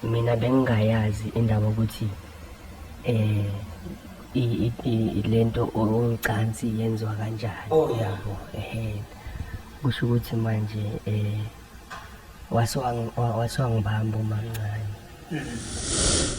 mina bengingayazi indaba ukuthi eh lento ocansi yenziwa kanjani oh yabo ehe kusho ukuthi manje eh wasewangibamba umamncane mm.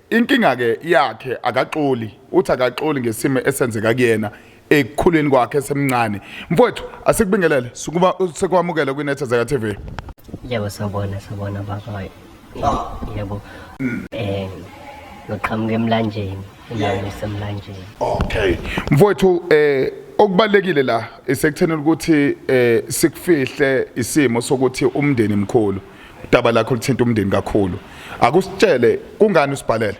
Inkinga ke yakhe akaxoli, uthi akaxoli ngesimo esenzeka kuyena ekukhuleni kwakhe esemncane. Mfowethu asikubingelele sukuba sekwamukela kwinethezeka TV. Yebo sawubona sawubona baba. Yebo. Eh ngiqhamuka emlanjeni, endaweni esemlanjeni. Okay. Mfowethu eh okubalekile la isekuthenela ukuthi eh sikufihle isimo sokuthi umndeni mkhulu. udaba lakho lithinta umndeni kakhulu akusitshele kungani usibhalele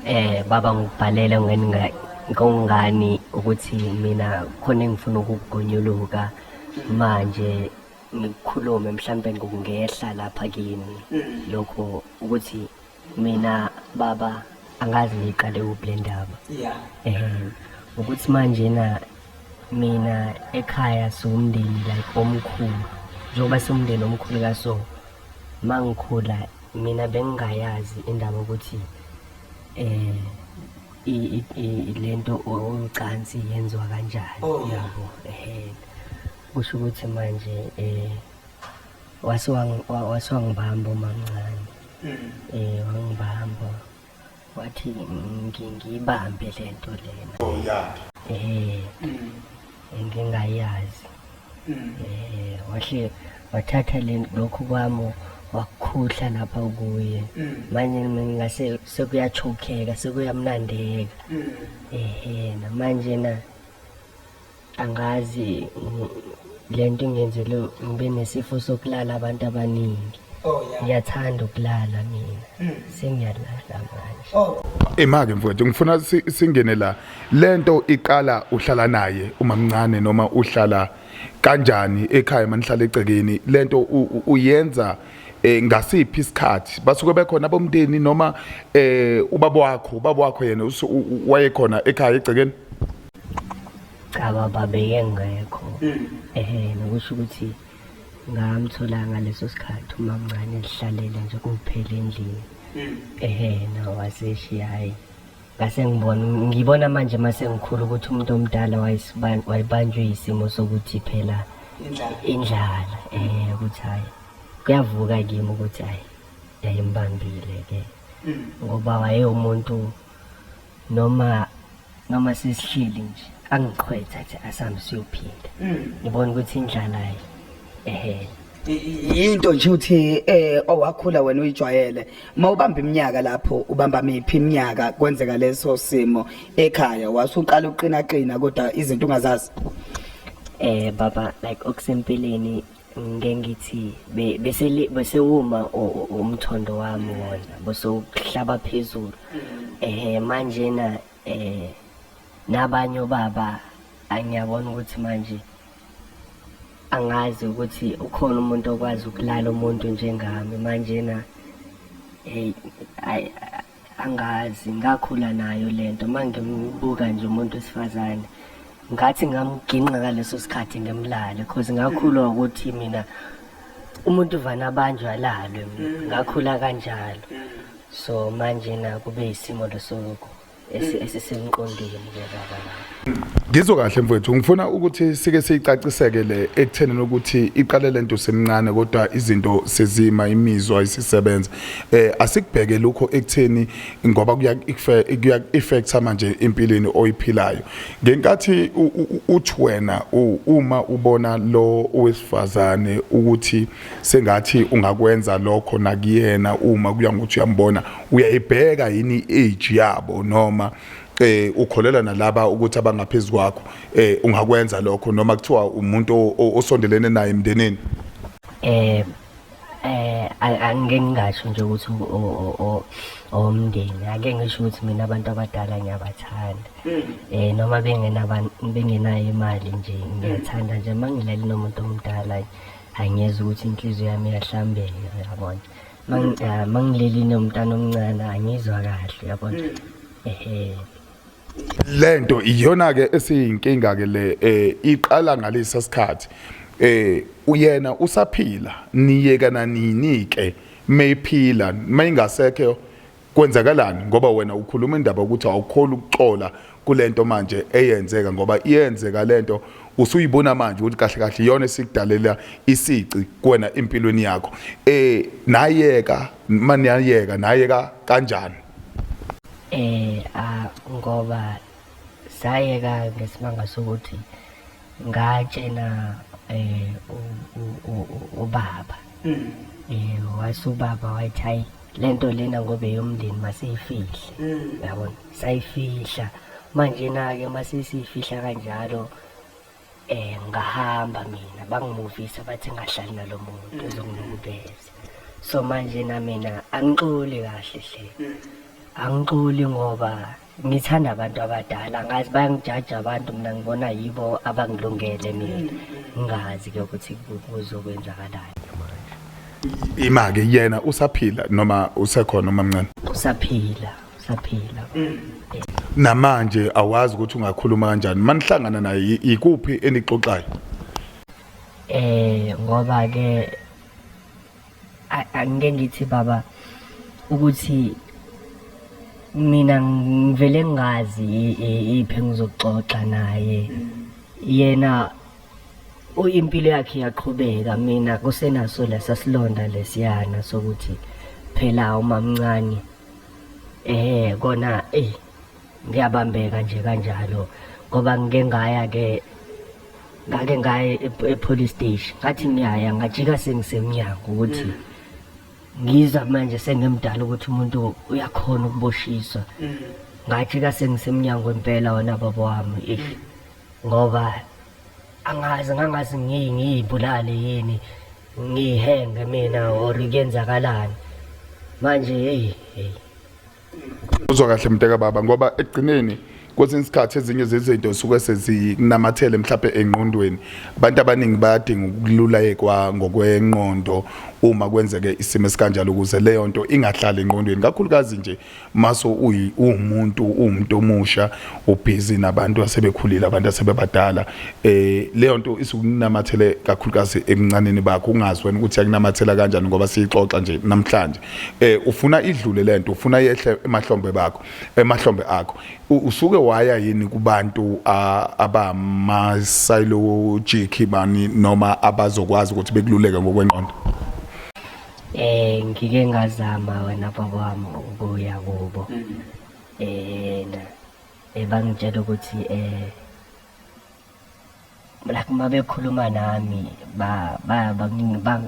eh baba ngibhalele ngeninga ngongani ukuthi mina khona engifuna ukugonyuluka manje ngikhulume mhlambe ngokungehla lapha kini lokho ukuthi mina baba angazi ngiqale kuphi le ndaba um ukuthi manjena mina ekhaya siwumndeni like omkhulu njengoba siwumndeni omkhulu kaso ma ngikhula mina bengingayazi indaba ukuthi um le nto ocansi yenziwa kanjani oh, yabo um kusho ukuthi manje um wase wangibamba umamncane mm. eh wangibamba wathi ngiyibambe lento lena oh yeah eh mm. ngingayazi mm. eh wahle wathatha lokhu kwami wakukhuhla lapha kuye mm. manje ngingase sekuyachokeka sekuyamnandeka mm. ehena manje na angazi le nto ingenzele ngibe nesifo sokulala abantu abaningi oh, ngiyathanda ukulala mina hmm. sengiyalala manje oh. imake mfowethu ngifuna singene la le nto iqala uhlala naye umamncane noma uhlala kanjani ekhaya manihlala egcekeni le nto uyenza eh ngasiphi isikhathi basuke bekhona abomndeni noma eh ubaba wakho ubaba wakho yena wayekhona ekhaya egcekeni cha baba beyengekho ehe nokusho ukuthi ngamthola ngaleso sikhathi uma mncane lihlalele nje kuphela endlini ehe nawaseshiya hhayi ngase ngibona ngibona manje uma sengikhulu ukuthi umuntu omdala wayebanjwe yisimo sokuthi phela indlala um ukuthi hhayi kuyavuka kimi ukuthi hhayi yayimbambile-ke ngoba wayewumuntu noma noma sesihleli nje angiqhwetha athi asambe siyophinda ngibona ukuthi indlala ye ehe yinto nje ukuthi eh owakhula wena uyijwayele mawubamba iminyaka lapho ubamba miphi iminyaka kwenzeka leso simo ekhaya wasuqala uqina qina kodwa izinto ungazazi eh baba like okusempeleni ngengithi be- bese li- bese uma u- u- umthondo wami wona bese uhlaba phezulu ehe manje na eh nabanye obaba angiyabona ukuthi manje angazi ukuthi ukhona umuntu okwazi ukulala umuntu njengami manje na hey ay- angazi ngakhula nayo lento mangimbuka nje umuntu wesifazane ngathi ngamginqa ngaleso sikhathi ngimlale cause ngakhulwa ukuthi mina umuntu uvana abanjwa alalwe mm. ngakhula kanjalo mm. so manje na kube isimo lesoko esisemqondweni ke baba Ngizwe kahle mfowethu ngifuna ukuthi sike siyicaciseke le ekutheni ukuthi iqale lento semncane kodwa izinto sezima imizwa isisebenza eh asikubheke lokho ekutheni ngoba kuya kuya effect manje empilweni oyiphilayo ngenkathi uthi wena uma ubona lo owesifazane ukuthi sengathi ungakwenza lokho nakuyena uma kuya ngokuthi uyambona uyayibheka yini age yabo noma eh ukholelwa nalaba ukuthi abangaphezulu kwakho eh ungakwenza lokho noma kuthiwa umuntu osondelene naye emndenini eh eh angeke ngingasho nje ukuthi owomndeni ake ngisho ukuthi mina abantu abadala ngiyabathanda mm. eh noma bengenayo imali nje ngiyathanda nje uma ngilali nomuntu omdala angiyeza ukuthi inhliziyo yami iyahlambeka yabona Ah, mangileli nomntana omncane angizwa kahle yabona ehe lento iyona ke esiyinkinga ke le eh iqala ngalesa sikhathi eh uyena usaphila niyekana nini ke mayiphila mayingasekho Kwenzakalani ngoba wena ukhuluma indaba ukuthi awukholi ukuxola kulento manje eyenzeka ngoba iyenzeka lento usuyibona manje ukuthi kahle kahle iyona esikudalela isici kuwena empilweni yakho eh nayeka mani yayeka nayeka kanjani eh a ngoba sayeka ngesibanga sokuthi ngatshela eh ubaba mm. eh wase ubaba wathi hayi lento lena ngobe yomndeni masiyifihle mm. yabona sayifihla manje na ke masisifihla kanjalo eh ngahamba mina bangimuvisa bathi ngahlali nalomuntu mm. ezongilubeza so manje na mina angixoli kahle hle angixoli ngoba ngithanda abantu abadala ngazi bayangijaja abantu mina ngibona yibo abangilungele mina ngazi ke ukuthi kuzokwenzakalayo manje imake yena usaphila noma usekhona umamncane usaphila usaphila namanje awazi ukuthi ungakhuluma kanjani manihlangana naye ikuphi enixoxayo eh ngoba ke angike ngithi baba ukuthi mina ngivele ngazi iphe ngizoxoxa naye yena impilo yakhe yaqhubeka mina kusenaso lesa silonda lesiyana sokuthi phela umamncane eh kona eh ngiyabambeka nje kanjalo ngoba ngike ngaya ke ngake ngaye e-police station ngathi ngiyaya ngajika sengisemnyango ukuthi mm. ngiza manje sengimdala ukuthi umuntu uyakhona ukuboshiswa mm. ngajika sengisemnyango impela wona baba wami ish mm. ngoba angazi ngangazi ngiyibulale yini ngihenge mina or kuyenzakalani manje hey hey uzwa kahle mnteka baba ngoba ekugcineni kwesinye isikhathi ezinye zezinto zisuke sezinamathele mhlawumbe engqondweni abantu abaningi bayadinga ukululayekwa ngokwenqondo uma kwenzeke isimo esikanjalo ukuze leyo nto ingahlali engqondweni kakhulukazi nje maso uwumuntu uwumuntu omusha ubhizi nabantu asebekhulile abantu asebebadala eh leyo nto isukunamathele kakhulukazi ebuncaneni bakho ungazi wena ukuthi yakunamathela kanjani ngoba siyixoxa nje namhlanje eh ufuna idlule lento ufuna yehle emahlombe bakho emahlombe akho usuke waya yini kubantu abama psychologic bani noma abazokwazi ukuthi bekululeke ngokwenqondo eh ngike ngazama wena baba wami ukuya kubo eh ebangitshela ukuthi eh like uma bekhuluma nami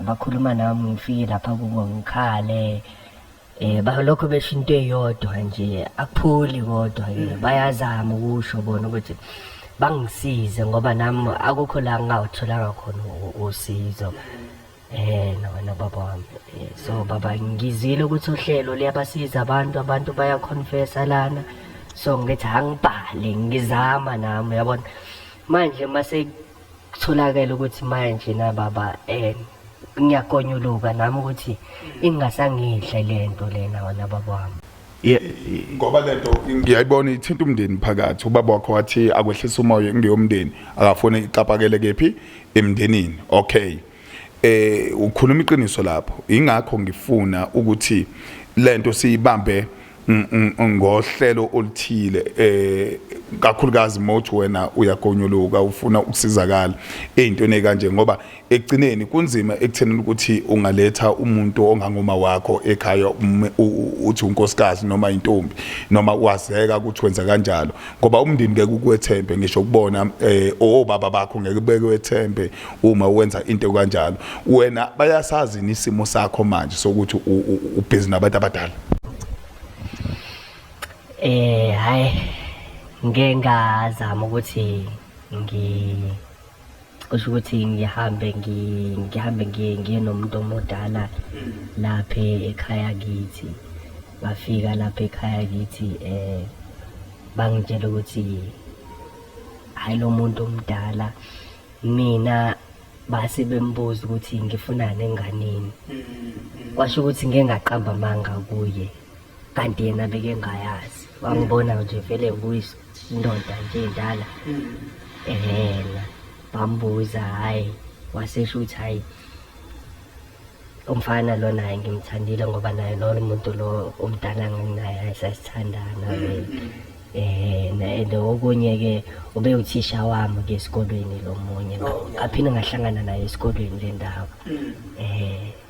bakhuluma nami ngifike lapha kubo ngikhale eh balokho besho into eyodwa nje akupholi kodwa ke mm. bayazama ukusho bona ukuthi bangisize ngoba nami akukho la ngingawutholanga khona usizo Eh lona baba wami Eh, so baba ngizile ukuthi uhlelo liyabasiza abantu abantu bayaconfessa lana so ngithi angibhale ngizama nami yabona manje mase kutholakele ukuthi manje na baba eh ngiyakonyuluka nami ukuthi ingasangidle lento lena wena baba wami ngoba lento ngiyayibona ithinta umndeni phakathi ubaba wakho wathi akwehlisa umoya ngeyomndeni akafone ixapakele kephi emndenini okay eh ukhuluma iqiniso lapho ingakho ngifuna ukuthi lento siyibambe ngohlelo oluthile eh kakhulukazi mothi wena uyagonyuluka ufuna ukusizakala ezintweni kanje ngoba ekugcineni kunzima ekuthenini ukuthi ungaletha umuntu ongangoma wakho ekhaya uthi unkosikazi noma intombi noma wazeka ukuthi wenza kanjalo ngoba umndeni ngeke ukwethembe ngisho kubona eh obaba bakho ngeke bekwethembe uma wenza into kanjalo wena bayasazi nisimo sakho manje sokuthi ubhizi nabantu abadala eh hayi ngeke ngazama ukuthi ngi kusho ukuthi ngihambe ngihambe ngiye nomuntu omudala lapha ekhaya kithi ngafika lapha ekhaya kithi um bangitshela ukuthi hhayi lo muntu omdala mina base bembuza ukuthi ngifunani enganeni kwasho ukuthi ngengaqamba amanga kuye kanti yena bekengayazi wangibona nje vele nguyise indoda nje endala ehena bambuza hhayi wasesho ukuthi hhayi umfana lo naye ngimthandile ngoba naye lolo muntu lo omdala nginaye hhayi sasithandana um and okunye-ke ube uthisha wami ke esikolweni lo munye ngaphinde ngahlangana naye esikolweni le ndaba um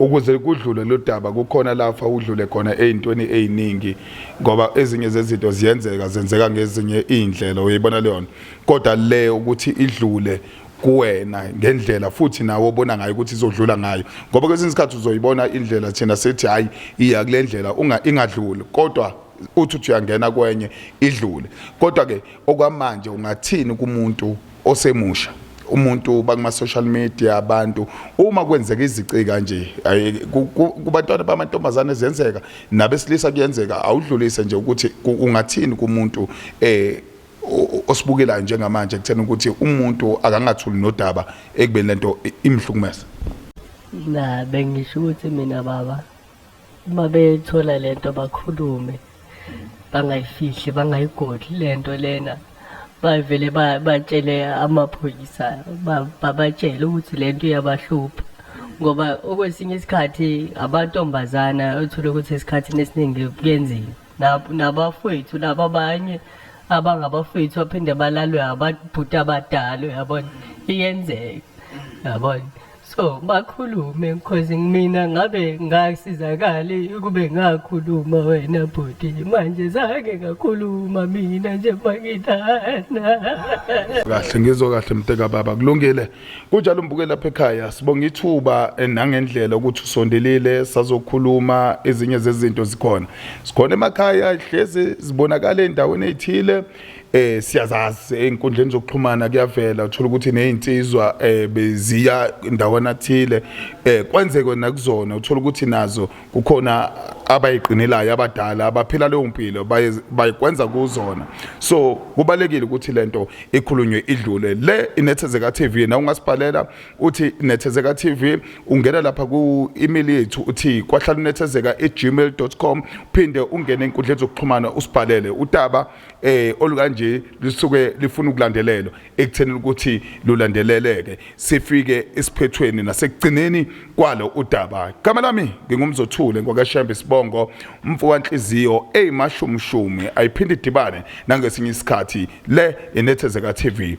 Ukuze kudlule lodaba kukhona lafa udlule khona ezintweni eziningi ngoba ezinye zezinto ziyenzeka zenzeka ngezinye izindlela uyibona leyona kodwa le ukuthi idlule kuwena ngendlela futhi nawe obona ngayo ukuthi izodlula ngayo ngoba kwesinye isikhathi uzoyibona indlela thina sethi hayi iya kule ndlela unga ingadluli kodwa uthi uthi uyangena kwenye idlule kodwa ke okwamanje ungathini kumuntu osemusha umuntu bakuma social media abantu uma kwenzeka izici kanje kubantwana bamantombazane ziyenzeka nabesilisa kuyenzeka awudlulise nje ukuthi ungathini kumuntu eh osibukelayo njengamanje kuthena ukuthi umuntu akangathuli nodaba ekubeni lento imhlukumeza na bengisho ukuthi mina baba uma bethola le nto bakhulume bangayifihli bangayigodli le nto lena bavele batshele amaphoyisa babatshele ukuthi le nto iyabahlupha ngoba okwesinye isikhathi abantombazana othole ukuthi esikhathini esiningi kuyenzima nabafowethu laba abanye abangabafowethu baphinde balalwe ababhuti abadala yabona iyenzeka yabona So makhulume cause mina ngabe ngasizakali ukube ngakhuluma wena bhuti manje zange ngakhuluma mina nje mangithanda kahle ngizwe kahle mteka baba kulungile kunjalo mbuke lapha ekhaya sibonga ithuba eh, nangendlela ukuthi usondelile sazokhuluma ezinye zezinto zikhona sikhona emakhaya hlezi zibonakala endaweni ezithile eh siyazazi einkundleni zokuxhumana kuyavela uthola ukuthi nezinsizwa eh beziya ndawana thile eh kwenzeke nakuzona uthola ukuthi nazo kukhona abayiqinelayo abadala abaphila leyo mpilo bayikwenza kuzona so kubalekile ukuthi lento ikhulunywe idlule le inethezeka TV na ungasibhalela uthi nethezeka tv ungena lapha ku-email yethu uthi kwahlala unethezeka e-gmail com uphinde ungene enkundleni zokuxhumana usibhalele udaba eh olukanje lisuke lifuna ukulandelelwa ekutheni ukuthi lulandeleleke sifike esiphethweni nasekugcineni kwalo udaba igama lami ngingumzothule ngwakashembe sibongo umfowanhliziyo eyimashumshumi ayiphinde idibane nangesinye isikhathi le inethezeka tv